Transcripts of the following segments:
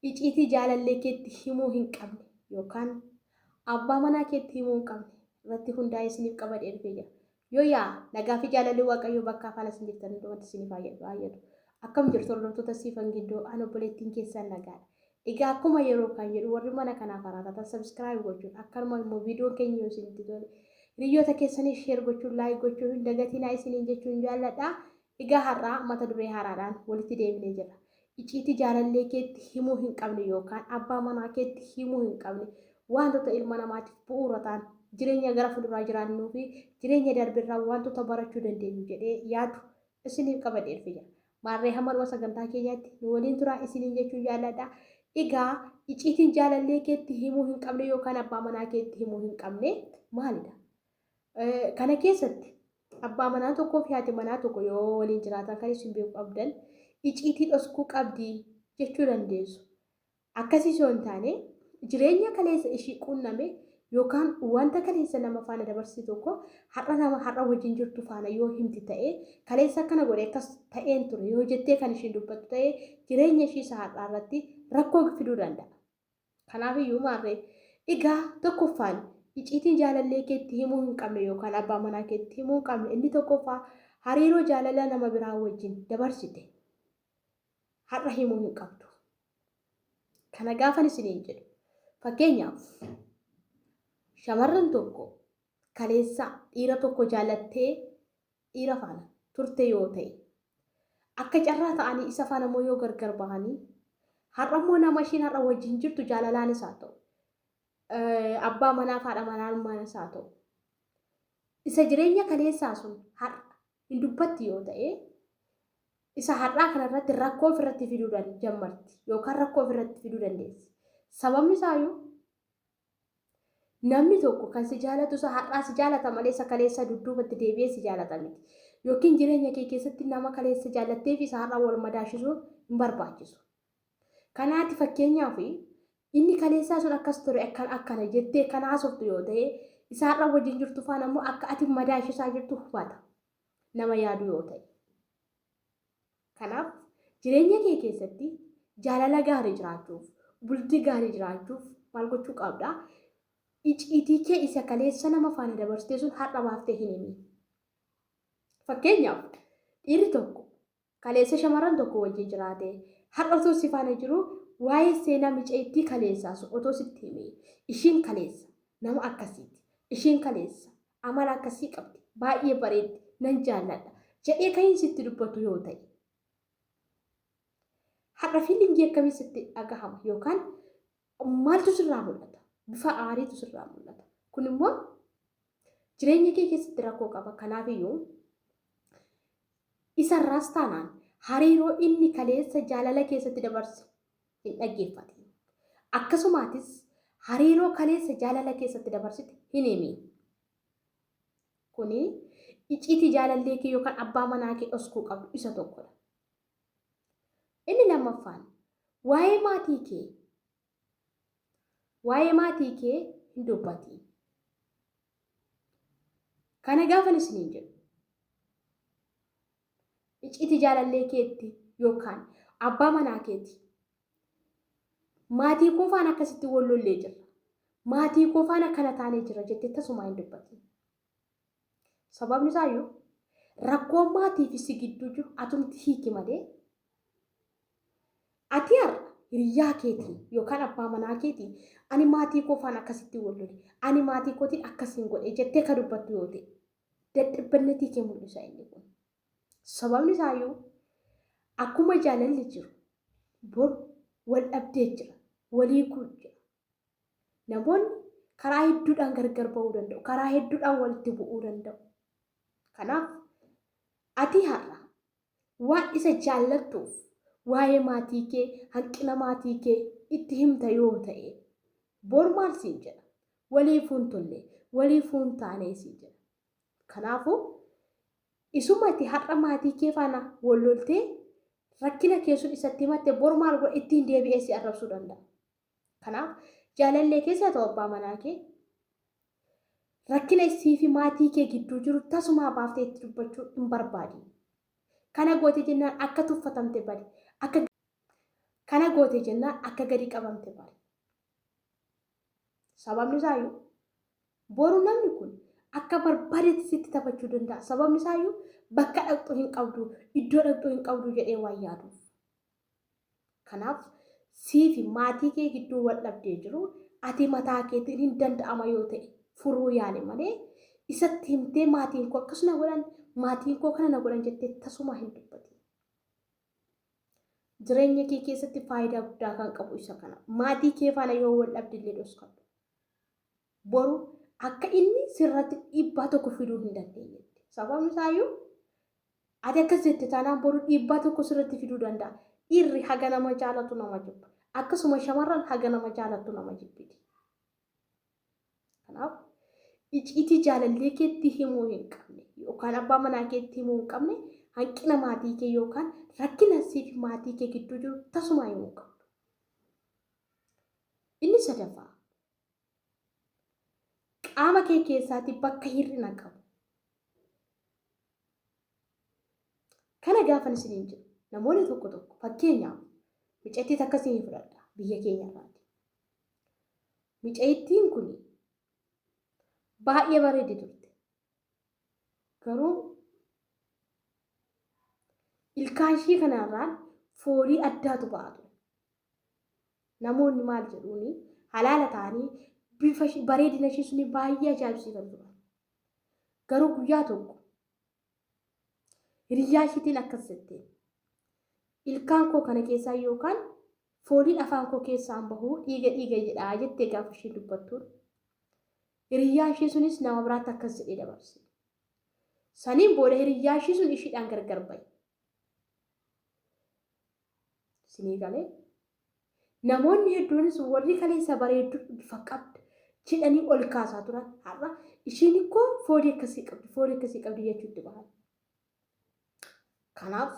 Iciitii jaalallee keetti himuu hin qabne yookaan Abbaa manaa keetti himuu hin qabne irratti hundaa'ee isiniif qabadhee dhufee jira. Yoo yaa nagaa fi jaalalli Waaqayyoo bakkaa faana isin jirtan hundumatti isiniif haayyadu. Akkam jirtu hordoftoota Siifan Giddoo an obboleettiin keessan nagaadha. Egaa akkuma yeroo kan jedhu warri mana kanaaf haaraa taatan subscribe gochuun akkanuma immoo viidiyoon keenya yoo isinitti tole hiriyyoota keessaniif share gochuun like gochuu hin dagatinaa isiniin jechuun jaalladha. Egaa har'aa mata duree haaraadhaan walitti deebinee jirra. Iciitii jaalallee keetti himuu hin qabne yookaan abbaa manaa keetti himuu hin qabne waantota ilma namaatiif bu'uura ta'an, jireenya gara fuulduraa jiraannuu fi jireenya darbe irraa waantota barachuu dandeenyu jedhee yaadu isiniif qabadhee dhufee jira. Maarree hamma dhuma sagantaa keenyaatti nu waliin turaa isiniin jechuun jaalladha. Egaa iciitiin jaalallee keetti himuu hin qabne yookaan abbaa manaa keetti himuu hin qabne maalidha? Kana keessatti Abbaa manaa tokkoo fi haati manaa tokko yoo waliin jiraatan kan isin beekuu qabdan iciitii dhoskuu qabdi jechuu dandeessu. Akkasiis yoo hin taane jireenya kaleessa ishii quunname yookaan wanta kaleessa nama faana dabarsite tokko har'a nama har'a wajjin jirtu faana yoo himti ta'e kaleessa akkana godhe akkas ta'een ture yoo jettee kan ishiin dubbattu ta'e jireenya ishii isa har'aa irratti rakkoo fiduu danda'a. Kanaaf iyyuu maarree? Egaa tokkoffaan iciitii jaalallee keetti himuu hin qabne yookaan abbaa manaa keetti himuu hin qabne inni tokkoffaa hariiroo jaalalaa nama biraa wajjin dabarsite har'a himuu hin qabdu. Kana gaafan isiniin jedhu fakkeenyaaf shamarran tokko kaleessa dhiira tokko jaalattee dhiira faana turte yoo ta'e akka carraa ta'anii isa faana immoo yoo gargar bahanii har'a immoo nama ishiin har'a wajjin jirtu jaalalaanis haa ta'u eh, abbaa manaa fi haadha manaa ilmaanis haa ta'u isa jireenya kaleessaa sun har'a hin dubbatti yoo ta'e isa har'aa kanarratti rakkoo ofirratti fiduu dan- jammarti yookaan rakkoo ofirratti fiduu dandeessi. Sababni isaayyuu Namni tokko kan si jaalatu isa har'aa si jaalata malee isa kaleessaa dudduubatti deebi'ee si jaalata miti. Yookiin jireenya kee keessatti nama kaleessa jaallattee fi isa har'aa wal madaashisuun hin barbaachisu. Kanaa ati fakkeenyaaf inni kaleessaa sun akkas ture akkan akkana jettee kan haasoftu yoo ta'e isa har'a wajjin jirtu faana immoo akka ati madaashisaa jirtu hubata nama yaadu yoo ta'e. Kanaaf jireenya kee keessatti jaalala gaarii jiraachuuf, bultii gaarii jiraachuuf maal gochuu qabda? Iciitii kee isa kaleessa nama faana dabarsitee sun har'a baaftee hin himi. Fakkeenyaaf dhiirri tokko kaleessa shamarran tokko wajjin jiraate har'a otoo si faana jiru waa'ee seenaa micayittii kaleessaa sun otoo sitti hime ishiin kaleessa nama akkasiiti ishiin kaleessa Amala akkasii qabdi. Baay'ee bareeddi. Nan jaalladha. Jedhee kan sitti dubbatu yoo ta'e. Har'a fiilingii akkamii sitti dhagahama yookaan maaltu sirraa mul'ata? Bifa aariitu sirraa mul'ata. Kun immoo jireenya kee keessatti rakkoo qaba. Kanaaf iyyuu isarraas taanaan hariiroo inni kaleessa jaalala keessatti dabarse hin dhaggeeffatin. Akkasumaatis hariiroo kaleessa jaalala keessatti dabarsite hin himiin. Kuni iciitii jaalallee kee yookaan abbaa manaa kee dhoskuu qabdu isa tokkodha. Inni lammaffaan waa'ee maatii kee waa'ee maatii kee hin dubbatiin. Kana gaafan isiniin jedhu icciitii jaalallee keetti yookaan abbaa manaa keeti. Maatii koo faana akkasitti wal lollee jirra. Maatii koo faana akkana taanee jirra jettee tasumaa hin dubbatin. Sababni isaayyuu rakkoon maatii fi si gidduu jiru atumti hiiki malee ati har'a hiriyaa keetii yookaan abbaa manaa keetii ani maatii koo faana akkasitti wal lole ani maatii kootiin akkasiin godhe jettee ka dubbattu yoo ta'e dadhabbannatii kee mul'isa inni kun. Sababni isaayyuu akkuma jaalalli jiru bor wal dhabdee jira, walii kuu jira. Namoonni karaa hedduudhaan gargar ba'uu danda'u, karaa hedduudhaan walitti bu'uu danda'u. Kanaaf ati har'a Waan isa jaallattuuf waa'ee maatii kee, hanqina maatii kee itti himta yoo ta'e, bor maal siin jedha? Waliifuu hin tolle, waliifuu hin taane siin jedha. Kanaafuu, isuma ati har'a maatii kee faana wal loltee rakkina kee sun isatti himatte bor maal godha ittiin deebi'ee si arrabsuu danda'a. Kanaaf jaalallee kees haa ta'u abbaa manaa kee rakkina isii fi maatii kee gidduu jiru tasumaa baaftee itti dubbachuu hin barbaadin. Kana goote jennaan akka tuffatamte bari. Akka kana goote jennaan akka gadi qabamte bari. Sababni isaayyuu boru namni kun akka barbaadetti sitti taphachuu danda'a. Sababni isaayyuu bakka dhaqxu hin qabdu, iddoo dhaqxu hin qabdu jedhee waan yaaduuf. Kanaaf siifi maatii kee gidduu wal dhabdee jiru ati mataa keetiin hin danda'ama yoo ta'e furuu yaali malee isatti himtee maatiin koo akkas na godhan maatiin koo kana na godhan jettee tasumaa hin dubbatin. Jireenya kee keessatti faayidaa guddaa kan qabu isa kana. Maatii kee faana yoo wal dhabde illee dhoskadhu. Boru akka inni sirratti dhiibbaa tokko fiduu hin dandeenyetti. Sababni isaayyuu Ati akkas jette taanaan boru dhiibbaa tokko sirratti fiduu danda'a. Dhiirri haga nama jaalatu nama jibba. Akkasuma shamarran haga nama jaalattu nama jibbiti. Kanaaf iciitii jaalallee keetti himuu hin qabne yookaan abbaa manaa keetti himuu hin qabne hanqina maatii kee yookaan rakkina siif maatii kee gidduu jiru tasumaa himuu hin qabdu. Inni sadaffaa Qaama kee keessaati bakka hir'ina qabu. Kana gaafan isiniin jedhu namoonni tokko tokko fakkeenyaaf micattii takka isinii fudhadha biyya keenya irraati. Micayittiin kun baay'ee bareeddi turte. Garuu ilkaan ishii kanarraan foolii addaatu ba'a ture. Namoonni maal jedhuuni halaala ta'anii bifa ishii- bareedina ishii suni baay'ee ajaa'ibsiifatu turan. Garuu guyyaa tokko hiriyyaa ishiitiin akkas jette. Ilkaan koo kana keessaa yookaan fooliin afaan koo keessaan bahuu dhiiga dhiiga jedhaa jettee gaafa ishii dubbattuun. Hiriyyaan ishii sunis nama biraatti akkas jedhee dabarse. Saniin booda hiriyyaan ishii sun ishiidhaan gargar bahe. Isinii galee? Namoonni hedduunis warri kaleessa bareedduu bifa qabda jedhanii ol kaasaa turan har'a ishiin ikkoo foolii akkasii qabdi foolii akkasii qabdi jechuutti bahan. Kanaaf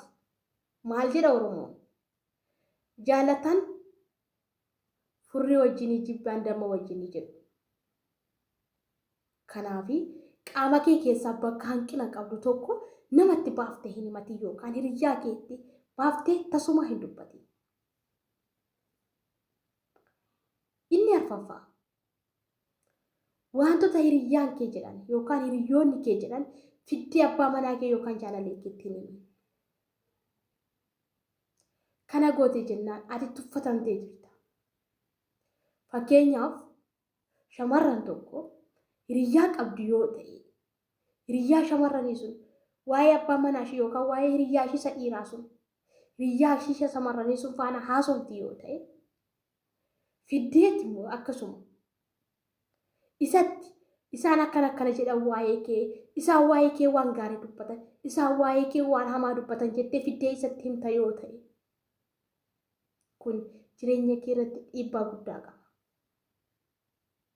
maal jedha Oromoon? Jaalatan Furrii wajjinii jibbaan damma wajjinii jedhu. Kanaafi qaama kee keessaa bakka hanqina qabdu tokko namatti baaftee hin himatin yookaan hiriyyaa keetti baaftee tasumaa hin dubbatin. Inni arfaffaa wantoota hiriyyaan kee jedhan yookaan hiriyyoonni kee jedhan fiddee abbaa manaa kee yookaan jaalallee keetti hin himin. Kana gootee jennaan ati tuffatamtee jirta. Fakkeenyaaf shamarran tokko hiriyyaa qabdu yoo ta'e hiriyyaa shamarranii sun waa'ee abbaa manaa ishii yookaan waa'ee hiriyyaa ishii isa dhiiraa sun hiriyyaa ishii isa shamarranii sun faana haasofti yoo ta'e fiddeetti immoo akkasuma Isatti, Isaan akkana akkana jedhan waa'ee kee, isaan waa'ee kee waan gaarii dubbatan, isaan waa'ee kee waan hamaa dubbatan jettee fiddee isatti himta yoo ta'e, kun jireenya kee irratti dhiibbaa guddaa qaba.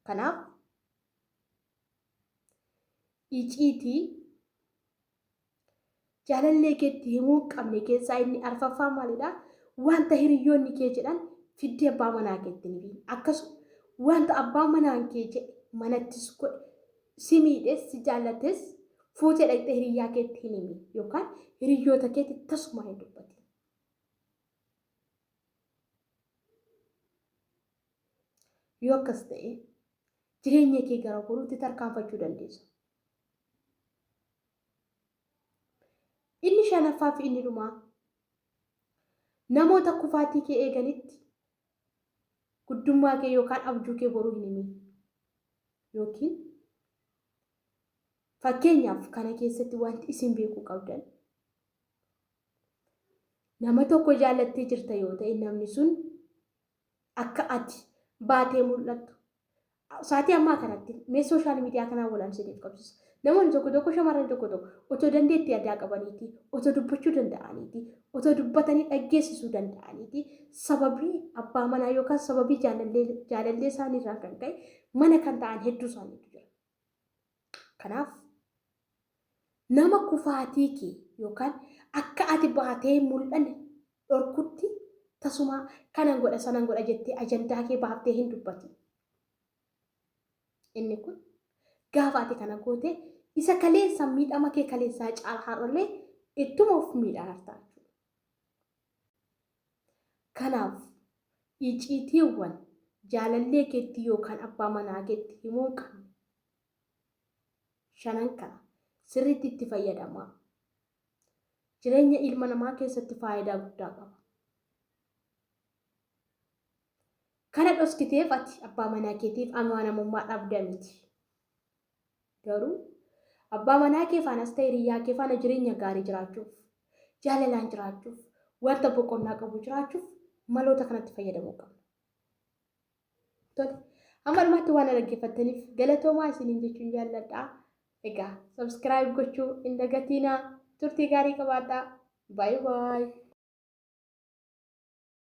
Kanaaf, iciitii Jaalallee keetti himuu hin qabne keessaa inni arfaffaa maalidha? Wanta hiriyyoonni kee jedhan fiddee abbaa manaa keetti hin himin. Akkasuma wanta abbaa manaan kee jedhe manattis godhe si miidhes si jaallates fuutee dhaqxee hiriyyaa keetti hin himin yookaan hiriyyoota keetti tasumaa hin dubbatin. Yoo akkas ta'e jireenya kee gara boruutti tarkaanfachuu dandeessa. Inni shanaffaa fi inni dhumaa namoota kufaatii kee eeganitti guddummaa kee yookaan abjuu kee boruu hin himin. Yookiin fakkeenyaaf kana keessatti wanti isin beekuu qabdan nama tokko jaallattee jirta yoo ta'e namni sun akka ati baatee mul'attu saatii ammaa kanatti mee sooshaal miidiyaa kanaan wal amsiniif qabsiisa. Namoonni tokko tokko shamarran tokko tokko otoo dandeettii addaa qabaniiti, otoo dubbachuu danda'aniiti, otoo dubbatanii dhaggeessisuu danda'aniiti sababii abbaa manaa yookaan sababii jaalallee jaalallee isaaniirraa kan ka'e mana kan ta'an hedduu isaaniitu jira. Kanaaf nama kufaatii kee yookaan akka ati baatee hin mul'anne dhorkutti tasumaa kanan godha sanan godha jettee ajandaa kee baaftee hin dubbati. Inni kun gaafa ati kana goote isa kaleessa miidhama kee kaleessaa caala har'allee ittuma of miidhaan hartaa jechuudha. Kanaaf iciitiiwwan jaalallee keetti yookaan abbaa manaa keetti himuu hin qabne shanan kana sirriitti itti fayyadamaa. Jireenya ilma namaa keessatti faayidaa guddaa qaba. Kana dhoskiteef ati abbaa manaa keetiif amaanamummaa dhabda miti. Garuu abbaa manaa kee faanas ta'e hiriyyaa kee faana jireenya gaarii jiraachuuf, jaalalaan jiraachuuf, wanta boqonnaa qabu jiraachuuf maloota kanatti fayyadamuu qabna. Tole. Amma dhumaatti waan na dhaggeeffattaniif galatoomaa isiniin jechuun jaalladha. Egaa subscribe gochuu hin dagatiinaa. Turtii gaarii qabaadhaa. Bye bye.